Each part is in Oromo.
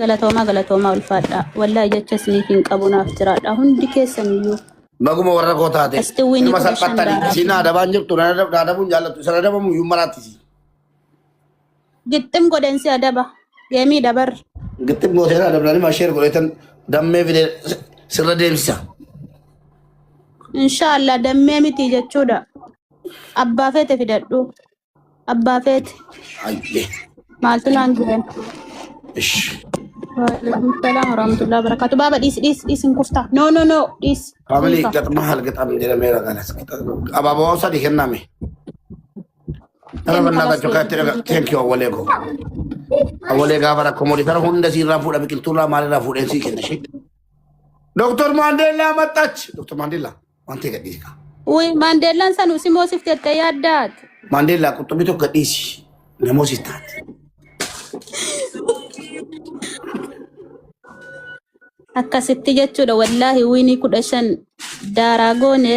Galatoomaa galatoomaa ulfaadhaa. Wallaahi jecha isiniif hin qabu naaf jiraadhaa. Hundi keessan iyyuu Baguma warra koo taate. Asti wini Nama kudha shan salphattani. daadaa. Isiin adabaan jirtu na adab- na adabuun jaallatu. Isan adabamu iyyuu maraatisi. gixxim godhen si adaba. Geemii dabar. Gixxim gooteen adabnani masheer godheetan dammee fidee si- sirra deemsisa. Inshaallah dammee miti jechuudha. Abbaa feete fidadhu. Abbaa feete. Hayyee. Maaltu naan jiran? Ish. Waalaikum salaam warahmatullahi wabarakatuh. Baaba dhiisi dhiisi dhiisi hin kuftaa. No no no dhiisi. Family Dhiifa. gaxma hal gaxam jedhameera kanas. Abaaboo sadi kenname. Tara bannaa gachuu kaatti dhaga. Thank you awwalee koo. Awwalee gaafa rakkoo moodi tara hunda siirraa fuudha biqiltuurraa maalirraa fuudheen sii kenna ishee. Doktor Maandeellaa maxxachi. Doktor Maandeellaa. Waan ta'e gadhiisi kaa. Uy, Maandeellaan san usimoo sif jette yaaddaat. Maandeellaa qurxummii tokko gadhiisi. Namoo siif taate. Akkasitti jechuudha wallaahi wiinii kudha shan daaraa goone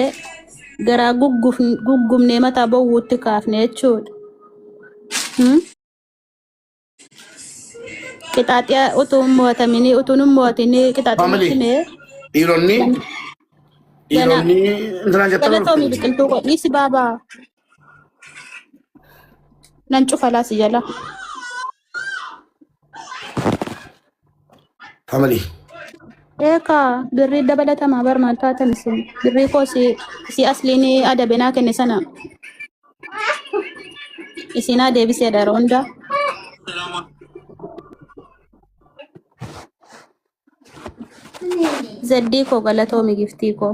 garaa gugguf- guggubnee mataa bowwuutti kaafne jechuudha. Hmm? Qixaaxee utuu hin mo'ataminii utuu hin mo'atinii qixaaxee Family. natti mee Dhiironni gana dhiironni intinaa jettan ol galatoomi fuudhu. biqiltuu koo dhiisi baabaa nan cufa laasi jala. Family. Eeka birrii dabalatamaa bar maal taatan isin birrii koo si si asliin adabe naa kenne sana isin haa deebisee dara hunda zeddii koo galatoomi giftii koo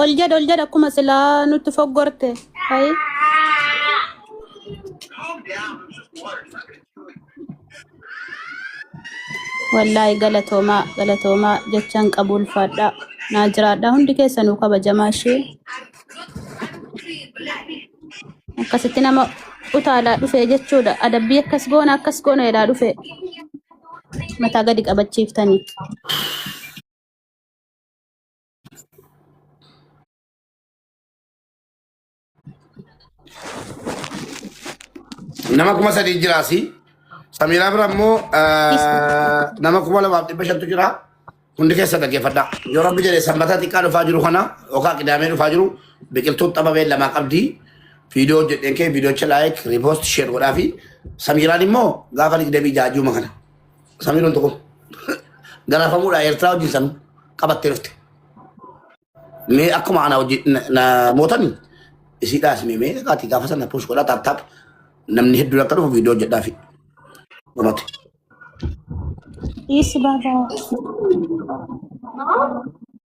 Ol jedha ol jedha akkuma silaa nutti foggorte. Hayi. Wallaahi galatoomaa galatoomaa jechaan qabu ulfaadhaa. Naa jiraadhaa hundi keessanuu kabajamaa ishee. Akkasitti nama utaalaa dhufee jechuudha. Adabbii akkas goona akkas goona jedhaa dhufee. Mataa gadi qabachiiftanii. Nama kuma sadii jira asii. Samiraa bira immoo eh, nama kuma lamaaf dhibba shantu jira. Hundi keessa dhaggeeffadhaa. Yoo rabbi jedhe sanbata xiqqaa dhufaa jiru kana yookaan qidaamee dhufaa jiru biqiltuu xababee lamaa qabdi. Viidiyoo hojjedheen kee viidiyocha laayik riipoost sheer godhaa fi Samiraan immoo gaafa digdamii jaajuma kana. Samii loltu kun. Garaafamuudhaa Eertiraa wajjin san qabattee dhufte. Mee akkuma ana wajjin na- na mootani isiidhaa isin mee kaati gaafa sana push godhaa taap taap namni hedduun akka dhufu viidiyoo jedhaa fi dhumate. Yes, Baba.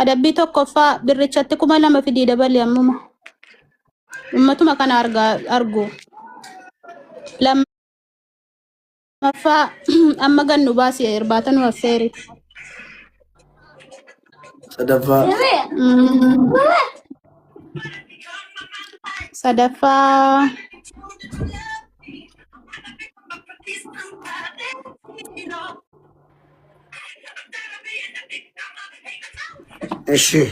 Adabbii tokkoffaa birrichatti kuma lama fidii dabali ammuma. Ummatuma kana argaa argu. Lammaffaa amma gad nu baasi irbaata nu affeeri. sadaffaa Mm. Sadaffaa Ishee.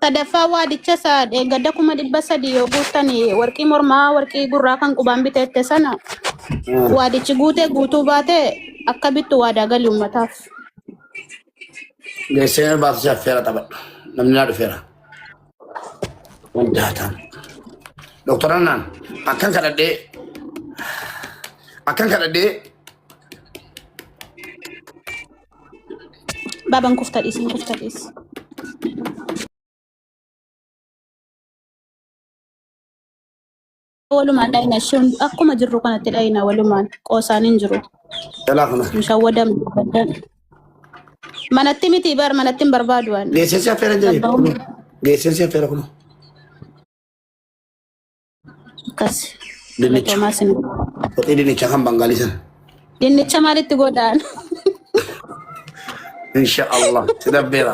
Sadaffaa waadicha isa gadda kuma dhibba sadii yoo guuttan warqii mormaa warqii gurraa kan qubaan biteette sana waadichi guutee guutuu baate akka bittu waadaa gali uummataaf. Geessee nama baatu si affeera taphadhu. Namni naa dhufeera. Hundaa ta'an. Doktor Annaan akkan kadhadhee akkan kadhadhee Baban kufta dhiisin kufta dhiis. Walumaan dhayna isheen akkuma jirru kanatti dhayna walumaan qoosaan hin jiru. Jalaa kana. Hin shawwadamu. Manatti miti bar manatti hin barbaadu waan. Geessinsi affeera jedhe. Abbaa. Geessinsi affeera kun. Akkas. Dinnicha. Galatoomaa sin. Qoxii dinnicha kan bangaalii sana. Dinnicha maalitti godhaan? Insha Allah. Si dabbeera.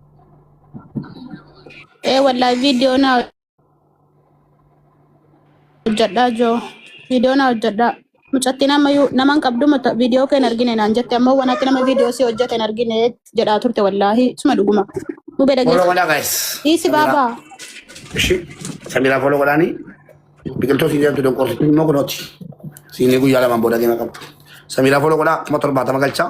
Ee wallahi viidiyoo naa hojjedhaa joo. Viidiyoo naa hojjedhaa. Mucattiin ammayyuu nama hin qabdu muta viidiyoo kee hin argine naan jette ammoo waan akka nama viidiyoo si hojjete hin argine jedhaa turte wallaahi suma dhuguma. Mubee Follow dhageessa. godhaa guys. Dhiisi Samira. baabaa. Ishi. Samira follow godhaani. Biqiltuu siin jedhamtu donqoorsitu immoo kunooti. Siinii guyyaa lamaan booda deema qabdu. Samira follow godhaa kuma torbaatama galchaa.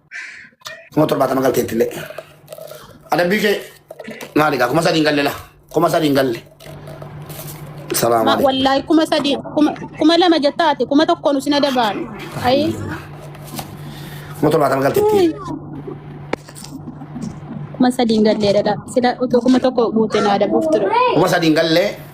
kuma torbaatama galteetti illee adabbii kee maali gaa kuma sadiin galle la kuma sadiin galle salaamu Ma- alaikum Wallaahi kuma sadii kuma kuma lama jettaati kuma tokkoon isin adabaan. Ayi. kuma torbaatama galteetti Kuma sadiin gallee dha. Sila utuu kuma tokko guuteen adabuuf ture. kuma sadiin galle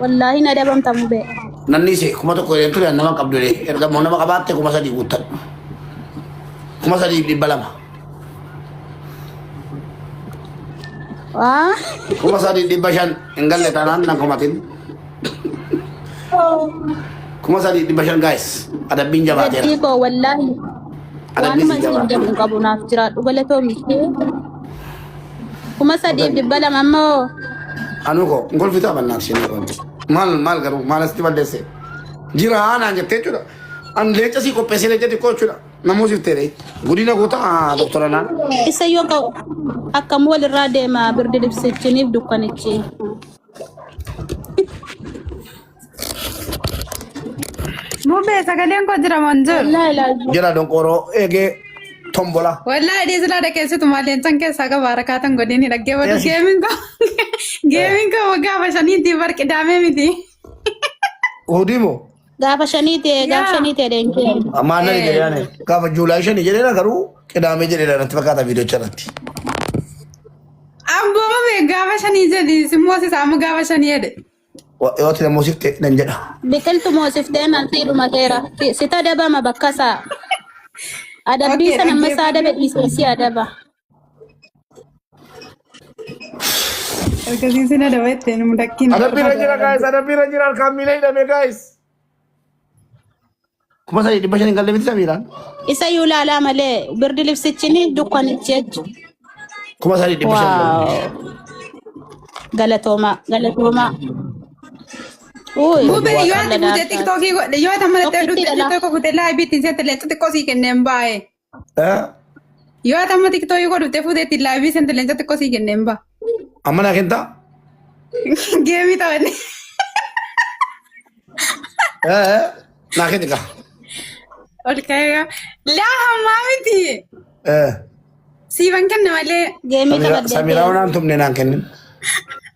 Wallaahi na dabamta mubee. Nanni ishee kuma tokko jedhee ture nama qabdu jedhee erga immoo nama qabaatte kuma sadii guuttan. Kuma sadii fi dhibba lama. Waa. Kuma sadii dhibba shan hin galle taanaan nan kumatin. Kuma sadii dhibba shan gaa'is adabbiin jabaateera. Gaddii koo wallaahi. Adabbiin Waanuma isin isin jabaateera. jedhu hin qabu naaf jiraadhu galatoomi. Kuma sadiif dhibba lama ammoo Anuu koo hin kolfitaa mannaa isheen kun. Maal maal garuu maal asitti balleesse? Jira naan jettee jechuudha. An leenca sii qopheessee leenca xiqqoo jechuudha. Namuu siif ta'e godina goota doktora naan. isa yoo ka'u akkam walirraa deema birdi libsichiniif dukkanichi. Mubee sagaleen koo jira maan jiru. Wallaahi ilaalcha. Jala donqooroo eegee tombola. Wallaahi dhiisilaa dhageessitu maal leencan keessaa qaba harakaatan godhini dhaggeeffatu Yes. geemiin koo geemiin koo waggaa bashaniitti bar qidaamee miti. Hudii moo? Gaafa shanii ta'e gaafa Yaa. shanii ta'e deenkee. Ammaa nani Eh. jedhani. Gaafa Juulaay shani jedheera garuu qidaamee jedheera natti fakkaata viidiyocha irratti. Abboo mubee gaafa shanii jedhi simmoo sisaa ammoo gaafa shanii jedhe. Waaqayyooti na moosifte nan jedha. Biqiltu moosiftee maltii dhumateera. Si- Sit adabama bakka isaa. Adabbii Okay, sana amma isaa adabe dhaggeeffannee dhiisee si adaba. ergasii sin adaba jettee nu mudakkiin Adabbiirra jira gaayis, adabbiirra jira harkaan miila hidhame gaayis. Kuma sadii dhibba shaniin galle miti samiiraan. Isa yuu laalaa malee birdi libsichini dukkanichi jechu. Kuma sadii dhibba shan galle. Waaw. Galatoomaa. Galatoomaa. Uy. Gube yoo Waaqa ati gute ladaa. tiktokii godhe yoo tamma Tokkittii dha laa. tiktokii godhe laa bitti seetti leexxu xiqqoo sii kenneen baay'ee. Yoo ati amma tiktooyii koo dhuftee fuuteetti laayivii seente leenca xiqqoo sii kenneen ba. Amma naa kentaa? Geemii taphanne. Naa kenni kaa. Ol ka'ee laa hammaa miti. Siiban kenna malee. Geemii Samiraa taphaddee. waan tumne naan kennin.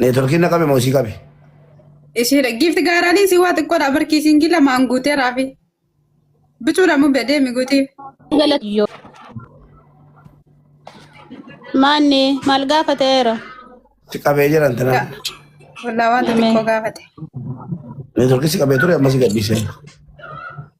Neetworkiin na qabe moo isii qabe? Ishiidha. Giifti gaaraanii si waa xiqqoodha. Barkii siingi lamaan guutee raafi. Bicuudha mun bedee miguutii. galatiyyo maanni maal gaafateera Si qabee jiran tana. Walaa wanta Ameen. xiqqoo gaafate. Neetworkii si qabee ture ammas gadhiisee.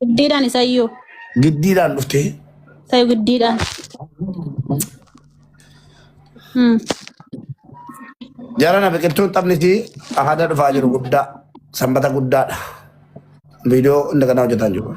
Giddiidhaan isayyuu. Giddiidhaan dhuftee. Isayyuu giddiidhaan. Hmm. Jarana biqiltuu taphni fi aadaa dhufaa jiru guddaa sanbata guddaadha. Viidiyoo hunda kanaa hojjetaa jiru.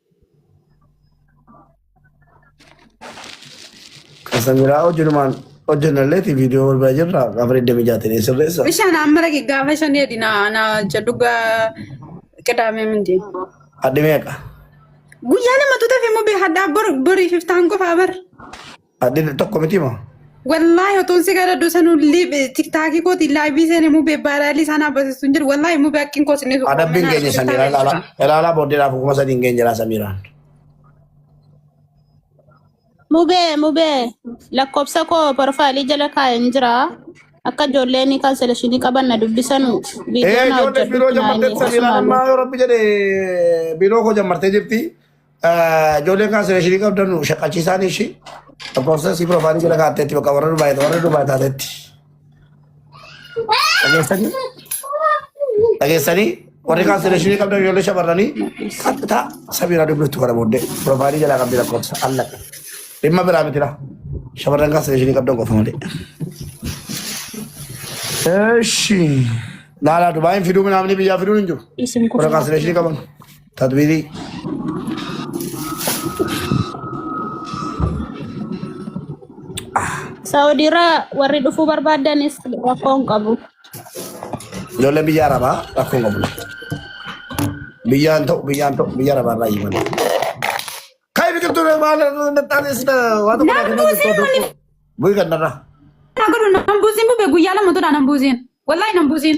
Kasa miraa hojinumaan hojjennalleeti viidiyoo wal bira jirra gaafa 26 sirreessa. Bishaan amma dhaqi gaafa shan eedi na na jedhu gaa qidaamee mindi. Hadhi meeqa? Guyyaa lama tuteef immoo bee hadhaa bor borii fiftaan qofaa bar. Addin tokko miti moo? Wallaahi otuun si gara dusanuu tiktaakii kootiin laayivii seenee mubee baaraalii isaan haabasistu hin jiru. Wallaahi mubee akkin koo sinni suuqaa. Adabbiin keenya Samiiraa ilaalaa. Ilaalaa booddeedhaaf kuma sadii hin geenye jira Samiiraan. Mubee mubee lakkoofsa koo porofaalii jala kaa'een jira. Akka ijoolleen kaanselashinii qaban na dubbisanu Ee viidiyoo na ijoollee biiroo hojjedhu jammartee Samiiraan ammaa yoo rabbi jedhe biiroo koo jammartee jirti. Ijoolleen kan sireeshinii qabdan nu shaqachiisaan ishii lakkoofsa si piroofaanii jala kaatteetti bakka warra Dubaay warra Dubaay taatetti. Dhageessanii dhageessanii warri kan sireeshinii qabdan ijoollee shamarranii qaxxita sabiiraa dubbiftu kana booddee piroofaanii jala qabdi lakkoofsa allaqa. Dhimma biraa mitira shamarran kan sireeshinii qabdan qofa malee. Eshi. Laalaa Dubaayin fiduu minaamni biyyaa fiduun hin jiru. Isin Warra kan sireeshinii qaban. Tadbirii. Saawudiirraa warri dhufuu barbaadanis rakkoo hin qabu. Ijoollee biyya arabaa rakkoo hin qabu. Biyyaan ta'u biyyaan ta'u biyya arabaa irraa himan. Kai biqiltuu maal nattaanis waan tokko Namni buusiin kun- tokko. Bu'ii kannarraa. Haa godhu nan buusiin bube guyyaa lama turaa nan buusiin. Wallaahi nan buusiin.